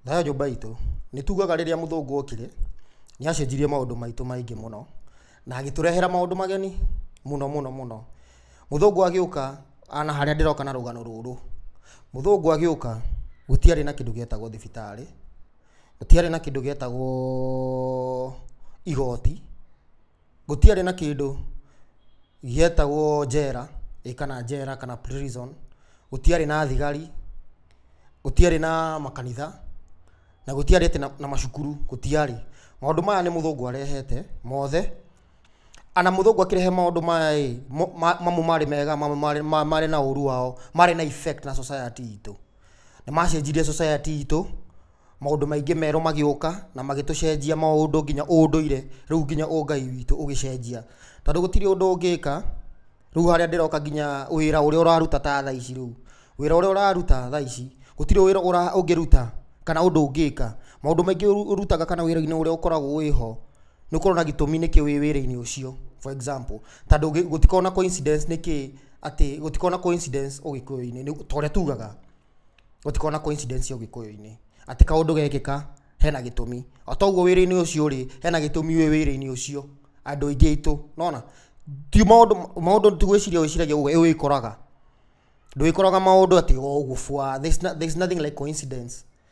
Nayo nyũmba itũ, nĩ tugaga rĩrĩa mũthũngũ okire, nĩ acenjirie maũndũ maitũ maingĩ mũno, na agĩtũrehera maũndũ mageni mũno mũno mũno. Mũthũngũ agĩũka na harĩa ndĩroka na rũgano rũrũ, mũthũngũ agĩũka gũtiarĩ na kĩndũ gĩetagwo thibitarĩ, gũtiarĩ na kĩndũ gĩetagwo igoti. gũtiarĩ na kĩndũ gĩetagwo njera, ĩ kana njera kana prison, gũtiarĩ na thigari, gũtiarĩ na makanitha, na gũtiarĩ atĩ na macukuru, gũtiarĩ. Maũndũ maya nĩ mũthũngũ arehete mothe, ana mũthũngũ akĩrehe maũndũ maya ĩ, mamwe marĩ mega, mamwe marĩ marĩ na ũru wao, marĩ na effect na society itũ. Nĩmacenjirie society itũ. Maũndũ maingĩ merũ magĩũka na magĩtũcenjia maũndũ nginya ũndũire rĩu nginya ũgai witũ ũgĩcenjia. Tondũ gũtirĩ ũndũ ũngĩka, rĩu harĩa ndĩroka nginya wĩra ũrĩa ũraruta ta thaa ici rĩu, wĩra ũrĩa ũraruta thaa ici, gũtirĩ wĩra ũngĩruta kana ũndũ ũngĩka. Maũndũ maingĩ ũrutaga kana wĩra-inĩ ũrĩa ũkoragwo wĩ ho, nĩ ũkoragwo na gĩtũmi nĩkĩ wĩ wĩra-inĩ ũcio. For example, ta gũtikoragwo na coincidence nĩkĩ atĩ gũtikoragwo na coincidence ũgĩkũyũ-inĩ ta ũrĩa tugaga. Gũtikoragwo na coincidence ũgĩkũyũ-inĩ. Atĩ kaũndũ gekĩka, hena gĩtũmi. O ta ũguo wĩra-inĩ ũcio rĩ, hena gĩtũmi wĩ wĩra-inĩ ũcio, andũ aingĩ aitũ. Nĩ wona? Ti maũndũ, maũndũ ti gwĩciria wĩciragia ũguo, ĩ wĩkoraga. Ndwĩkoraga maũndũ atĩ o ũguo bwa. There's nothing like coincidence.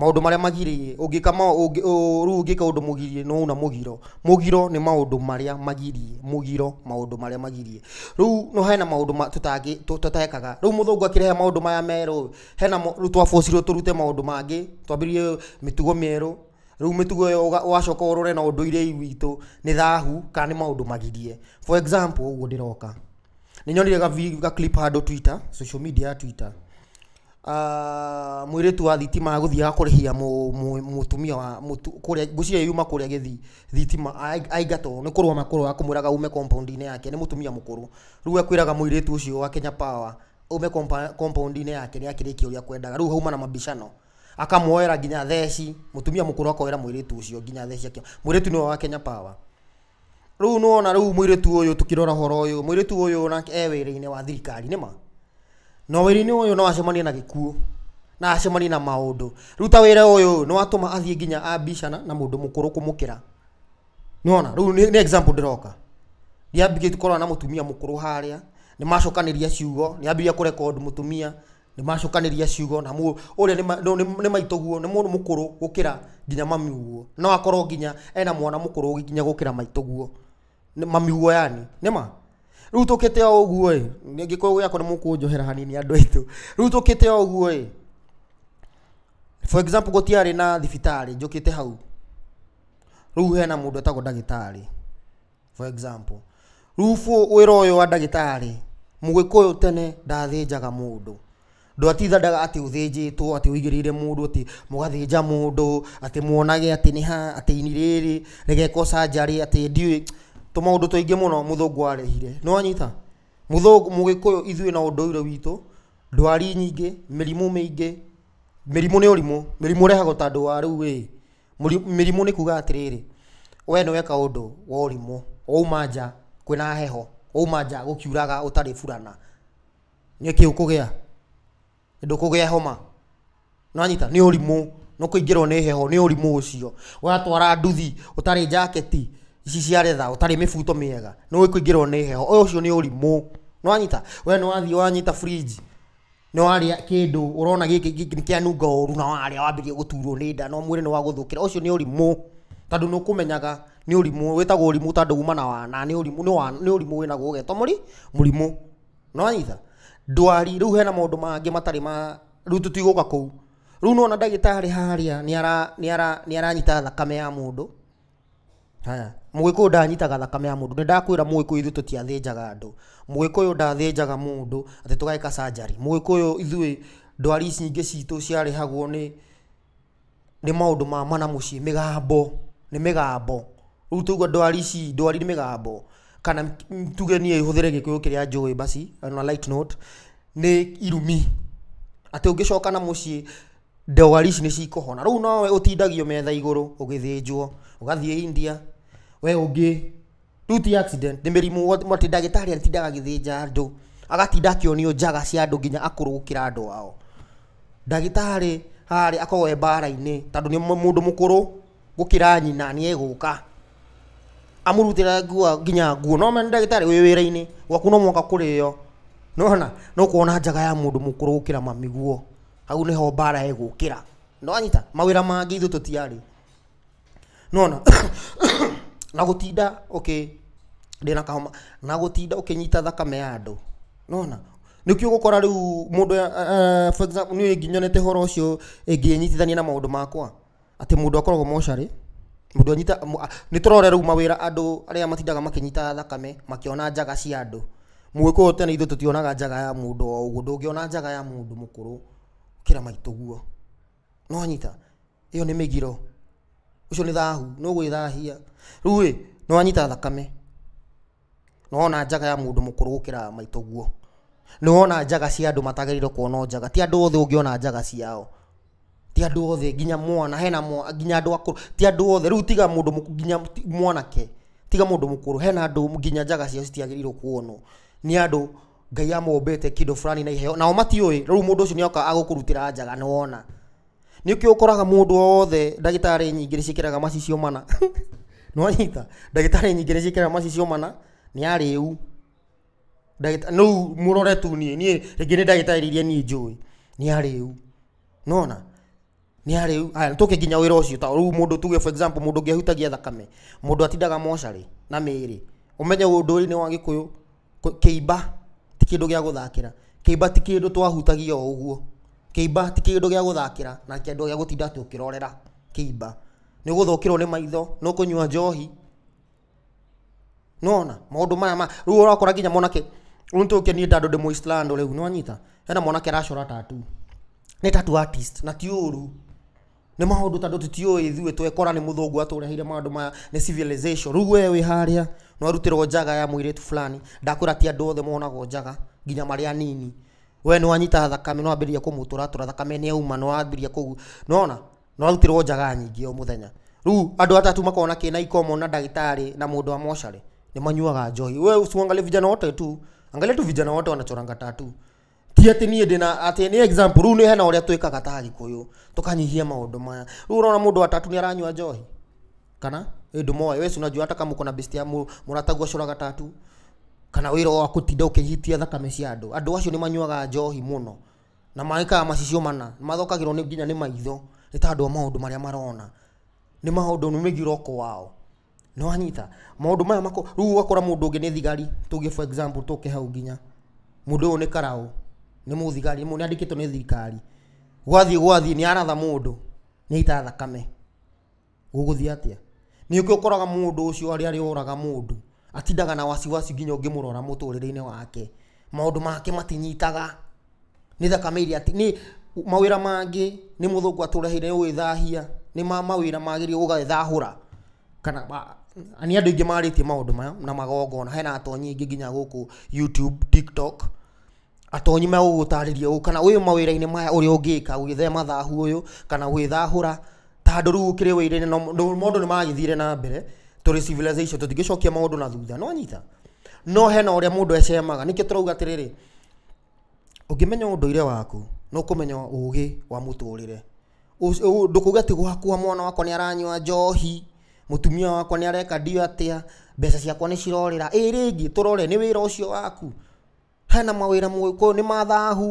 Maũndũ marĩa magiriĩ, ũngĩka ma, ũngĩ, ũ, rĩu ũngĩka ũndũ mũgirie nĩ wauna mũgiro. Mũgiro nĩ maũndũ marĩa magirie, mũgiro, maũndũ marĩa magirie. Rĩu no hena maũndũ ma, tũtangĩ, tũ, tũtekaga. Rĩu mũthũngũ akĩrehe maũndũ maya merũ ĩ, hena mo, rĩu twa force irwo tũrute maũndũ mangĩ, twambĩrĩrie mĩtugo mĩerũ, rĩu mĩtugo ĩyo ũga, ũgacoka ũrore na ũndũire witũ nĩ thahu ka nĩ maũndũ magirie. For example ũguo ndĩroka, nĩnyonire ga vi, ga clip handũ Twitter, social media ya Twitter. Ah, mwĩrĩtu wa thitima agũthiaga kũrĩhia mũ- mũ- mũtumia wa mũtu- kũrĩa ngwĩciria yuma kũrĩa gĩthii thitima ai- aingatwo nĩ kũrũa makũrũa akamwĩraga ume compound-inĩ yake nĩ mũtumia mũkũrũ rĩu akwĩraga mũirĩtu ũcio wa Kenya Power ume compa- compound-inĩ yake nĩ akĩrĩkia ũrĩa akwendaga rĩu hauma na mabicano akamuoera nginya theci mũtumia mũkũrũ akoera mũirĩtu ũcio nginya theci akĩ mũirĩtu nĩwe wa Kenya Power Rĩu nĩ wona rĩu mũirĩtu ũyũ tũkĩrora ũhoro ũyũ, mũirĩtu ũyũ nake e wĩra-inĩ wa thirikari, nĩ ma? Na wĩra-inĩ ũyũ no acemanie na gĩkuũ, na acemanie na maũndũ. Rĩu ta wĩra ũyũ ĩĩ, nĩ watũma athiĩ nginya ambicana na mũndũ mũkũrũ kũmũkĩra. Nĩ wona? Rĩu nĩ nĩ example ndĩroka. Nĩ ambĩrĩria tu kũrora na mũtumia mũkũrũ harĩa, nĩ macokanĩria ciugo, nĩ ambĩrĩria kũ record mũtumia. Nĩmacokanĩria ciugo na mũ, ũrĩa nĩ ma, nũ, nĩ, nĩ maitũguo, nĩ mũndũ mũkũrũ gũkĩra nginya mamiuguo. No akorwo nginya ena mwana mũkũrũ nginya gũkĩra maitũguo. Nĩ, mamiuguo yaani. Nĩ ma? Rĩu tũkĩte o ũguo-ĩ, nĩ Gĩkũyũ gĩakwa nĩmũkũnjohera hanini andũ aitũ. Rĩu tũkĩte o ũguo-ĩ, for example gũtiarĩ na thibitarĩ, njũkĩte hau. Rĩu hena mũndũ etagwo ndagĩtarĩ. For example, Rubu wĩra ũyũ wa ndagĩtarĩ, Mũgĩkũyũ tene ndathĩnjaga mũndũ. Ndwatindaga atĩ ũthĩnjĩtwo, atĩ ũigĩrĩire mũndũ atĩ mũgathĩnja mũndũ, atĩ muonage atĩ nĩ ha, atĩ ini rĩrĩ, rĩgekwo surgery, atĩ ndiũĩ, tũmaũndũ tũingĩ mũno mũthũngũ arehire. Nĩ wanyita? Mũthũngũ, Mũgĩkũyũ ithuĩ na ũndũire witũ, ndwari nyingĩ, mĩrimũ mĩingĩ. Mĩrimũ nĩ ũrimũ, mĩrimũ ĩrehagwo ta andũ a rĩu ĩ, mĩrimũ nĩ kuuga atĩrĩrĩ, we nĩ weka ũndũ wa ũrimũ, wauma nja kwĩna heho, wauma nja gũkiuraga ũtarĩ burana, nĩ kĩĩ ũkũgĩa? Ndũkũgĩa homa, nĩ wanyita? Nĩ ũrimũ, nĩ kũingĩrwo nĩ heho, nĩ ũrimũ ũcio. Watwara nduthi ũtarĩ njaketi, ici cia retha, ũtarĩ mĩbuto mĩega, nĩ ũkũingĩrwo nĩ heho, ũcio nĩ ũrimũ, nĩ wanyita? We nĩ wathiĩ wanyita fridge. Nĩ warĩa kĩndũ ũrona gĩkĩ nĩ kĩanunga ũru na warĩa wambĩrĩria gũturwo nĩ nda na mwĩrĩ nĩ wagũthũkĩra, ũcio nĩ ũrimũ tondũ nĩ ũkũmenyaga nĩ ũrimũ, wĩtagwo ũrimũ tondũ uma na wana, nĩ ũrimũ, nĩ ũrimũ wĩ naguo ũgetwo mũri, mũrimũ. Nĩ wanyita? Ndwari, rĩu hena maũndũ mangĩ matarĩ ma, rĩu tũtigũka kũu. Rĩu nĩ wona ndagĩtarĩ harĩa nĩ aranyita thakame ya mũndũ. Haya, mũgĩkũyũ ndanyitaga thakame ya mũndũ, nĩ ndakwĩra mũgĩkũyũ ithuĩ tũtiathĩnjaga andũ, mũgĩkũyũ ndathĩnjaga mũndũ atĩ tũgeka surgery, mũgĩkũyũ ithuĩ ndwari ici ingĩ citũ ciarehagwo nĩ nĩ maũndũ ma ma na mũciĩ, mĩgambo, nĩ mĩgambo, rĩu tũge ndwari ici, ndwari nĩ mĩgambo, kana tuge niĩ hũthĩre gĩkũyũ kĩrĩa njũĩ basi, on a light note, nĩ irumi, atĩ ũngĩcoka na mũciĩ Ndwari ici nĩ cikũhona. Rĩu nowe ũtindagio metha igũrũ ũgĩthĩnjwo, ũgathiĩ India, we ũngĩ, rĩu ti accident, nĩ mĩrimũ atĩ ndagĩtarĩ atindaga agĩthĩnja andũ, agatinda akĩonio njaga cia andũ nginya akũrũ gũkĩra andũ ao. Ndagĩtarĩ harĩa akoragwo e mbara-inĩ tondũ nĩ mũndũ mũkũrũ gũkĩra nyina nĩ egũka, amũrutĩre nguo nginya nguo. No wona ndagĩtarĩ wĩ wĩra-inĩ, gwaku no mũhaka kũrĩo, nĩ wona, nĩ ũkuona njaga ya mũndũ mũkũrũ gũkĩra mamiguo. hau nĩho mbara ĩgũkĩra nĩwanyita mawĩra mangĩ ithuĩ tũtiarĩ nona na gũtinda ũkĩ ndĩna kahoma na gũtinda ũkĩnyita thakame ya andũ nona nĩkĩo ũgũkora rĩu mũndũ eh, eh, for example, niĩ nginyonete horo ũcio ĩngĩnyitithania na maũndũ makwa atĩ mũndũ akoragwo mocarĩ, mũndũ anyita, mũ- a- nĩ tũrore rĩu mawĩra andũ arĩa matindaga makĩnyita thakame makĩona njaga cia andũ. Mũgĩkũyũ tene ithuĩ tũtionaga njaga ya mũndũ o ũguo, ndũngĩona njaga ya mũndũ mũkũrũ gũkĩra maitũ ũguo. Nĩ wanyita? Ĩyo nĩ mĩgiro. Ũcio nĩ thahu, nĩ ũgwĩthahia. Rĩu-ĩ, nĩ wanyita thakame. Nĩ wona njaga ya mũndũ mũkũrũ gũkĩra maitũ ũguo? Nĩ wona njaga cia andũ matagĩrĩirwo kuonwo njaga? Ti andũ othe ũngĩona njaga ciao. Ti andũ othe nginya mwana, hena mwana, nginya andũ akũrũ, ti andũ othe, rĩu tiga mũndũ mũkũrũ, nginya mwanake, tiga mũndũ mũkũrũ, hena andũ nginya njaga ciao citiagĩrĩirwo kuonwo nĩ andũ Ngai amũmbĩte kĩndũ fulani na iheo, nao matiũĩ, rĩu mũndũ ũcio nĩoka agũkũrutĩra njaga nĩwona. Nĩkĩo ũkoraga mũndũ wothe ndagĩtarĩ nyingĩ nĩciĩkĩraga macicio mana. Nĩwanyita? Ndagĩtarĩ nyingĩ nĩciĩkĩraga macicio mana, nĩ arĩu. Ndagĩta rĩu mũrore tu niĩ, niĩ rĩngĩ nĩ ndagĩtarĩ iria niĩ njũĩ, nĩ arĩu. Nĩwona? Nĩ arĩu. Aya nĩtũke kinya wĩra ũcio ta rĩu mũndũ tuge for example mũndũ ũngĩ ahutagia thakame, mũndũ atindaga mocarĩ na mĩĩrĩ. Ũmenye ũndũire-inĩ wa Gĩkũyũ. Kũ- kĩimba ti kĩndũ gĩa gũthakĩra kĩimba ti kĩndũ twahutagia o ũguo kĩimba ti kĩndũ gĩa gũthakĩra na kĩndũ gĩa gũtinda tũkĩrorera kĩimba nĩ ũgũthũkĩrwo nĩ maitho nĩ ũkũnyua njohi nona maũndũ maya ma rĩu ũrakora nginya mwanake rĩu nĩtũke niĩ tandũ ndĩ mũislando rĩu nĩwanyita hena mwanake aracora tatu nĩ tatu artist na ti ũru nĩ maũndũ tondũ tũtiũĩ ithuĩ twekora nĩ mũthũngũ atũreheire maũndũ maya nĩ civilization. Rĩu we wĩ harĩa nĩ warutĩrwo njaga ya mũirĩtu fulani, ndakwĩra ti andũ othe monagwo njaga nginya marĩ anini. We nĩ wanyita thakame nĩ wambĩrĩria kũmũtũratũra thakame nĩ yauma nĩ wambĩrĩria kũ, nĩ wona? Nĩ warutĩrwo njaga nyingĩ o mũthenya. Rĩu andũ atatũ makoragwo na kĩna ikomo na ndagĩtarĩ na mũndũ wa mocarĩ nĩ manyuaga njohi. We usiwaangalie vijana wote tu, angalia tu vijana wote wanachoranga tattoo. ti atĩ niĩ ndĩna atĩ nĩ example rĩu nĩ hena ũrĩa twĩkaga ta agĩkũyũ tũkanyihia maũndũ maya rĩu ũrona mũndũ wa tatu nĩ aranyua njohi kana ĩ ndũmoĩ wee si unajua hata kama uko na besti ya mũ- mũratagu acũraga tatu kana wĩra wa kũtinda ũkĩhitia thakame cia andũ andũ acio nĩ manyuaga njohi mũno na magĩkaga macicio mana mathokagĩrwo nĩ nginya nĩ maitho nĩ tondũ wa maũndũ marĩa marona nĩ maũndũ nĩ mĩgiroko wao Nĩ wanyita? Maũndũ maya mako, rĩu ũgakora mũndũ ũngĩ nĩ thigari, tuge for example tũke hau nginya. Mũndũ ũyũ nĩ karaũ, nĩ mũthigari, nĩ andĩkĩtwo nĩ thirikari. Gwathiĩ gwathiĩ nĩ aratha mũndũ, nĩ aita thakame. Gũgũthiĩ atĩa? Ningĩ ũkoraga mũndũ ũcio arĩa arĩa ũraga mũndũ, atindaga na wasiwasi nginya ũngĩmũrora mũtũrĩre-inĩ wake. Maũndũ make matinyitaga. nĩ thakame iria ti, nĩ mawĩra mangĩ nĩ mũthũngũ atũreheire gũgĩthahia, nĩ ma mawĩra magĩrĩirwo gũgethahũra, kana ma, na nĩ andũ aingĩ marĩtie maũndũ maya na magongona, hena atonyi aingĩ nginya gũkũ YouTube, TikTok, atonyi megũgũtarĩria ũũ, kana wĩ mawĩra-inĩ maya ũrĩa ũngĩka gwĩthema thahu ũyũ, kana gwĩthahũra, ta handũ rĩu ũkĩrĩ wĩra-inĩ na maũndũ nĩ maragĩthire na mbere, tũrĩ civilization tũtingĩcokia maũndũ na thutha, nĩ wanyita? No hena ũrĩa mũndũ acemaga, nĩkĩo tũrauga atĩrĩrĩ, Ũngĩmenya ũndũire waku, nĩ ũkũmenya ũgĩ wa mũtũrĩre. Ndũkauge atĩ gwakwa mwana wakwa nĩ aranyua njohi, mũtumia wakwa nĩ areka ndiũĩ atĩa, mbeca ciakwa nĩ cirorĩra. Ĩ rĩngĩ, tũrore, nĩ wĩra ũcio waku? Hena mawĩra mũgĩkũyũ nĩ ma thahu.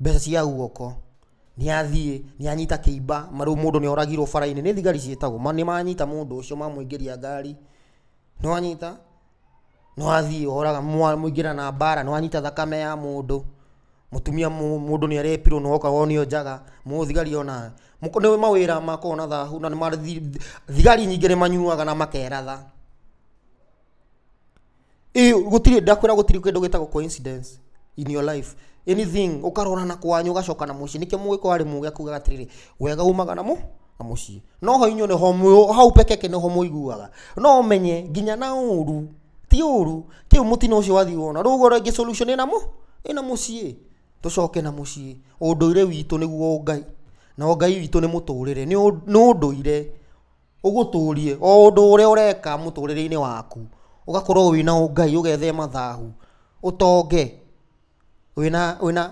mbeca cia guoko, nĩ athiĩ, nĩ anyita kĩimba, marĩu mũndũ nĩ oragirwo bara-inĩ, nĩ thigari ciĩtagwo, nĩ manyita mũndũ ũcio mamũingĩria ngari, nĩ wanyita, nĩ wathiĩ woraga, mwaingĩra na mbara, nĩ wanyita thakame ya mũndũ, mũtumia mũndũ nĩ arepirwo nĩ woka wonio njaga, mũthigari ona, nĩ mawĩra makoragwo na thahu na nĩ ma, thigari nyingĩ nĩ manyuaga na makeratha. Ĩ, gũtirĩ ndakwĩra gũtirĩ kĩndũ gĩtagwo coincidence in your life anything ũkarora na kwanyu ũgacoka na mũciĩ nĩkĩo mũgĩkũyũ arĩ mũgĩ akugaga atĩrĩrĩ wega umaga na mũ na mũciĩ no ho inyuĩ nĩho mwĩ- hau pekeke nĩho mũiguaga no ũmenye nginya na ũru ti ũru kĩu mũtino ũcio wathiĩ wona rĩu ũguo rĩngĩ solution ĩna mũ ĩna mũciĩ tũcoke na mũciĩ ũndũire witũ nĩguo ngai na ngai witũ nĩ mũtũrĩre nĩ ũ- nĩ ũndũire ũgũtũrie o ũndũ ũrĩa ũreka mũtũrĩre-inĩ waku, ũgakorwo wĩna ũngai, ũgethema thahu, ũtonge wĩna wĩna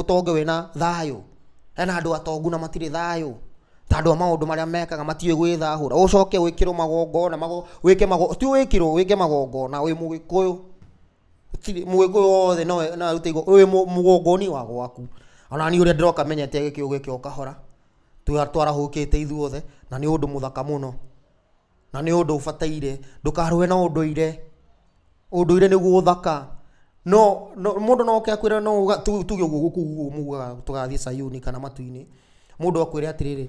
ũtonge wĩna thayũ. Hena andũ atongu na matirĩ thayũ, ta andũ a maũndũ marĩa mekaga matiũĩ gwĩthahũra, ũcoke wĩkĩrwo magongona, wĩke magongona, ti wĩkĩrwo, wĩke magongona wĩ mũgĩkũyũ, gũtirĩ mũgĩkũyũ wothe no arute igongona, wĩ mũgongoni wa gwaku, o na niĩ ũrĩa ndĩroka menyete gĩkĩyũ gĩkĩ o kahora. Twa- twarahũkĩte ithuothe na nĩ ũndũ mũthaka mũno na nĩ ũndũ ũbataire ndũkarũe na ũndũire ũndũire nĩguo ũthaka no no mũndũ no oke akwĩre no ũga- tu- tuge ũguo gũkũ guo mugaga tũgathiĩ sayuni kana matu-inĩ mũndũ akwĩre atĩrĩrĩ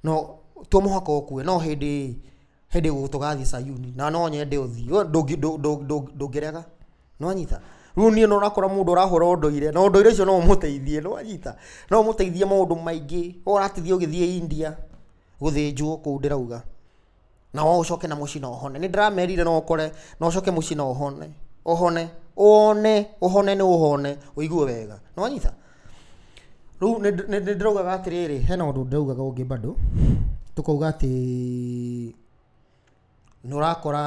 no to mũhaka ũkue no hĩndĩ hĩndĩ gũ- tũgathiĩ sayuni na no nyende ũthiĩ We ndũngĩ- ndũ- ndũ- ndũ- ndũngĩrega nĩwanyita rĩu niĩ no ũrakora mũndũ ũrahũra ũndũire na ũndũire ũcio no ũmũteithie nĩwanyita no ũmũteithie maũndũ maingĩ we ũratithia ũgĩthiĩ India gũthĩnjwo kũu ndĩrauga na we ũcoke na mũciĩ na ũhone nĩndĩramerire no ũkore no ũcoke mũciĩ na ũhone ũhone ũone ũhone nĩ ũhone ũigue wega nĩwanyita rĩu nĩndĩ- nĩndĩ- nĩndĩraugaga atĩrĩrĩ hena ũndũ ndĩraugaga ũngĩ bado tũkauga atĩ nĩũrakora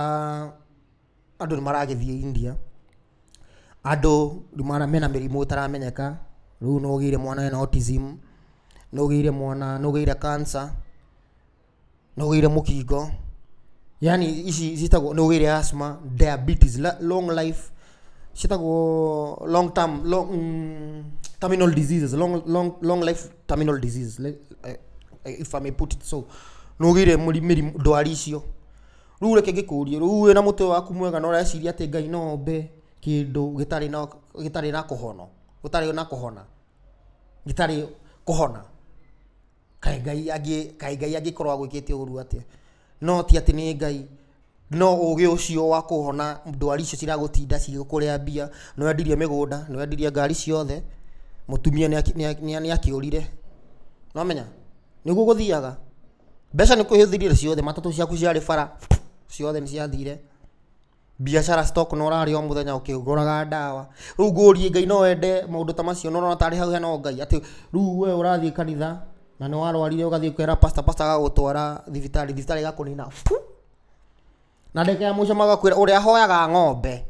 Andũ nĩ maragĩthiĩ India, andũ mena mĩrimũ ĩtaramenyeka, rĩu nĩ ũgĩire mwana ena autism, nĩ ũgĩire mwana, nĩ ũgĩire cancer, nĩ ũgĩire mũkingo, yaani ici ciĩtagwo, nĩ ũgĩire asthma, diabetes, long life, ciĩtagwo long term, long terminal diseases, long long long life terminal diseases if I may put it so. Nĩ ũgĩire mũri mĩrimũ ndwari icio. rĩu reke ngĩkũrie rĩu wĩna mũtwe waku mwega na ũreciria atĩ ngai no ombe kĩndũ gĩtarĩ na gĩtarĩ na kũhono gũtarĩ na kũhona gĩtarĩ kũhona kaĩ ngai angĩ kaĩ ngai angĩkorwo agwĩkĩte ũru atĩa no ti atĩ nĩ ngai no ũgĩ ũcio wa kũhona ndwari icio ciragũtinda cigĩkũrĩa mbia nĩ wendirie mĩgũnda nĩ wendirie ngari ciothe mũtumia nĩ akĩ- nĩ akĩ- nĩ akĩũrire nĩwamenya nĩguo gũthiaga mbeca nĩ kwĩhĩthirire ciothe matatũ ciaku ciarĩ bara ciothe nĩ ciathire biacara stock no ũrarĩa o mũthenya ũkĩgũraga ndawa rĩu ngũrie ngai no wende maũndũ ta macio no ũrona tarĩ hau hena ũngai atĩ rĩu we ũrathiĩ kanitha na nĩ warwarire ũgathiĩ kwĩra pastor pastor agagũtwara thibitarĩ thibitarĩ ĩgakũnina buu. na ndagĩka ya mũico magakwĩra ũrĩa ahoyaga ng'ombe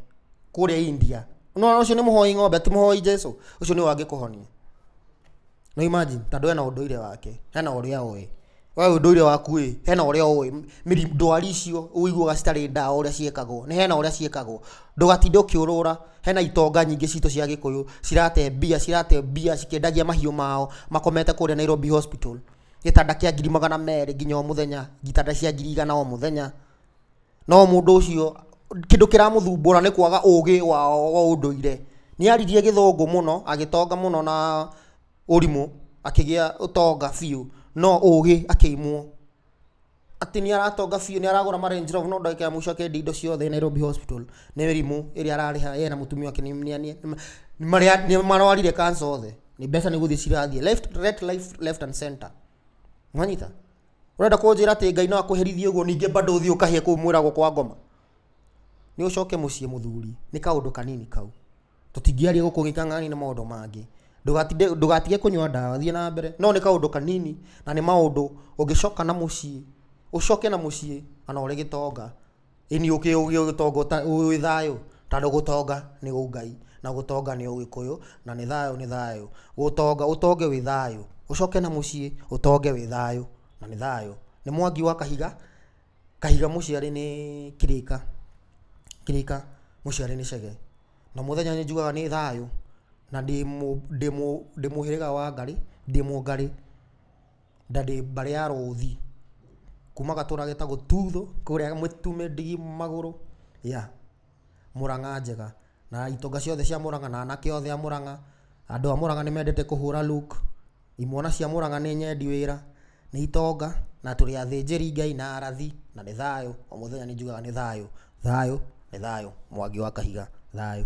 kũrĩa India no ũcio nĩ mũhoi ng'ombe ti mũhoi Jesu ũcio nĩwe angĩkũhonia no imagine tondũ hena ũndũire wake hena ũrĩa oĩ we ũndũire waku ĩ hena ũrĩa oĩ mĩri- ndwari icio ũiguaga citarĩ ndawa ũrĩa ciĩkagwo nĩ hena ũrĩa ciĩkagwo ndũgatinde ũkĩũrũra hena itonga nyingĩ citũ cia gĩkũyũ cirate mbia cirate mbia cikĩendagia mahiũ mao makomete kũrĩa Nairobi hospital gĩtanda kĩa ngiri magana merĩ nginya o mũthenya, itanda cia ngiri igana o mũthenya, no mũndũ ũcio kĩndũ kĩramũthumbũra nĩ kwaga ũgĩ wao wa ũndũire. Nĩ aririe gĩthũngũ mũno, agĩtonga mũno na ũrimũ, akĩgĩa ũtonga biũ, no ũgĩ akĩimwo. atĩ nĩ aratonga biũ, nĩ aragũra ma Range Rover no ndagĩka ya mũico akendia indo ciothe Nairobi Hospital. Nĩ mĩrimũ ĩrĩa ararĩha ye na mũtumia wake nĩ nĩ- nĩ- nĩ- nĩ marĩa- nĩ marwarire cancer othe. Nĩ mbeca nĩ gũthiĩ cirathiĩ. Left- right, life- left and center. Nĩwanyita? Ũrenda kũnjĩra atĩ Ngai no akũherithie ũguo ningĩ bado ũthiĩ ũkahĩe kũu mwĩragwo kwa ngoma? Nĩ ũcoke mũciĩ mũthuri. Nĩ kaũndũ kanini kau. Tũtingĩaria gũkũ gĩkang'ainĩ nĩ maũndũ mangĩ. Ndũgatinde ndũgatige kũnyua ndawa, thiĩ na mbere. No nĩ kaũndũ kanini, na nĩ maũndũ ũngĩcoka na mũciĩ, ũcoke na mũciĩ o na ũrĩ gĩtonga. Ĩni ũkĩ ũgĩ ũgĩtonga ũta wĩ thayũ, tondũ gũtonga nĩ Ũngai, na gũtonga nĩ Ũgĩkũyũ, na nĩ thayũ nĩ thayũ. Gũtonga ũtonge wĩ thayũ, ũcoke na mũciĩ, ũtonge wĩ thayũ, na nĩ thayũ. Nĩ Mwangi wa Kahiga. Kahiga mũciarĩ nĩ kĩrĩka, kĩrĩka mũciarĩ nĩ cege. Na mũthenya nĩ njugaga nĩ thayũ, na ndĩ mũ ndĩ mũ ndĩ mũhĩrĩga wa Ngarĩ, ndĩ mũngarĩ, na ndĩ mbarĩ ya Rũthi. Kuma gatũra getagwo Tuthũ, kũrĩa Mũtume ndigi magũrũ, yeah. Mũrang'a njega, na itonga ciothe cia Mũrang'a na anake othe a Mũrang'a, andũ a Mũrang'a nĩ mendete kũhũra look, imwana cia Mũrang'a nĩ nyendi wĩra, nĩ itonga na tũrĩ athĩnjĩri Ngai na arathi na nĩ thayũ, o mũthenya nĩ njugaga nĩ thayũ, thayũ, nĩ thayũ, Mwangi wa Kahiga, thayũ.